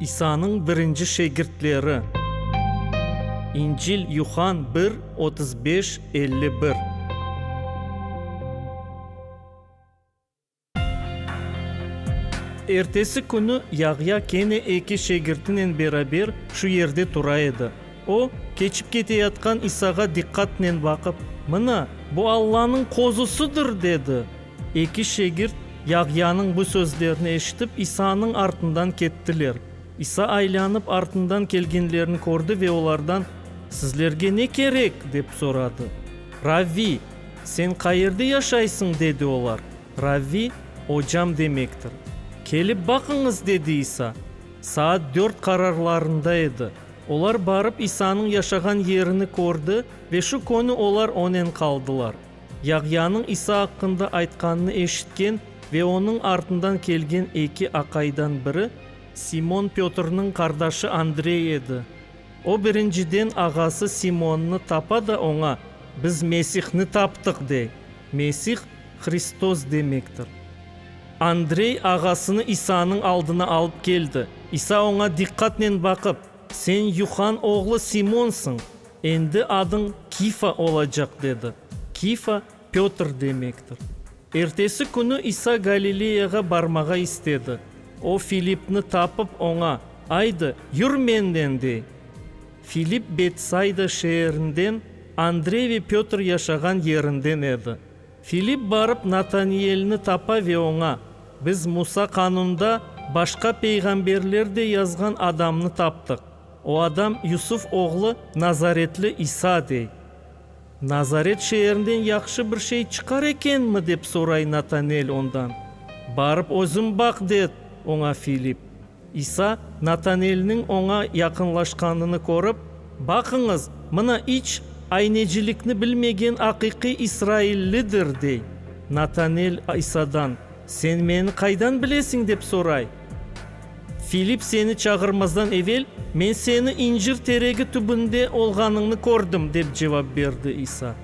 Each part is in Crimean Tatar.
İsanıñ birinci şegirtleri. İncil, Yuhann bir, otuz beş, elli bir. Ertesi künü Yahya kene eki şegirtinen beraber şu yerde tura edi. O, keçip keteyatqan İsağa diqqatnen baqıp, Mına, bu Allanıñ Qozusıdır! dedi. Eki şegirt Yahyanıñ bu sözlerini eşitip, İsanıñ artından kettiler. İsa aylanıp, artından kelgenlerni kördi ve olardan, Sizlerge ne kerek? dep soradı. Ravviy, sen qayerde yaşaysıñ? dedi olar. Ravviy, Ocam demektir. Kelip baqıñız, dedi İsa. Saat dört qararlarında edi. Olar barıp İsanıñ yaşağan yerini kördi ve şu könü olar onen qaldılar. Yahyanıñ İsa aqqında aytqanını eşitken ve onıñ artından kelgen eki aqaydan biri, Simon Pötrniñ qardaşı Andrey edi. O, birinciden, ağası Simonnı tapa da oña, Biz Mesihni taptıq! dey. Mesih, Hristos demektir. Andrey ağasını İsanıñ aldına alıp keldi. İsa oña diqqatnen baqıp, Sen Yuhan oğlu Simonsıñ. Endi adıñ Kifa olacaq, dedi. Kifa, Pötr demektir. Ertesi künü İsa Galileyağa barmağa istedi. O, Filipni tapıp, oña, Aydı, yür menden, dey. Filip Betsayda şeerinden, Andrey ve Pötr yaşağan yerinden edi. Filip barıp Nataniyelni tapa ve oña, Biz Musa Qanunda, başqa peyğamberler de yazğan adamnı taptıq. O adam Yusuf oğlu nazaretli İsa dey. Nazaret şeerinden yahşı bir şey çıqar ekenmi? dep soray Natanel ondan. Barıp özün baq, de oña Filip. İsa, Natanelniñ oña yaqınlaşqanını körip, Baqıñız, mına iç aynecilikni bilmegen aqiqiy israillidir, dey. Natanel İsadan, Sen meni qaydan bilesiñ? dep soray. Filip seni çağırmazdan evel, men seni incir teregi tübünde olğanıñnı kördim, dep cevap berdi İsa.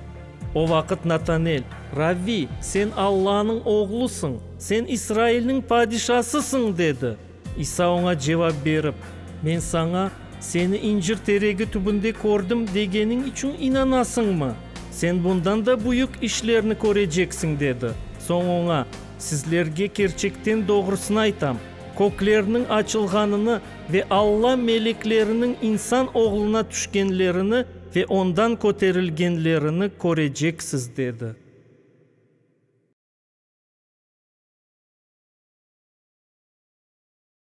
O vaqıt Natanel, Rabbi, sen Allanıñ Oğlusıñ, sen İsrailniñ padişasısıñ, dedi. İsa oña cevap berip, Men saña, Seni incir teregi tübünde kördim, degenim içün inanasıñmı? Sen bundan da büyük işlerni köreceksiñ, dedi. Soñ oña, Sizlerge kerçekten doğrusını aytam, kökleriniñ açılğanını ve Alla melekleriniñ insan oğluna tüşkenlerini ve ondan köterilgenlerini köreceksiz, dedi.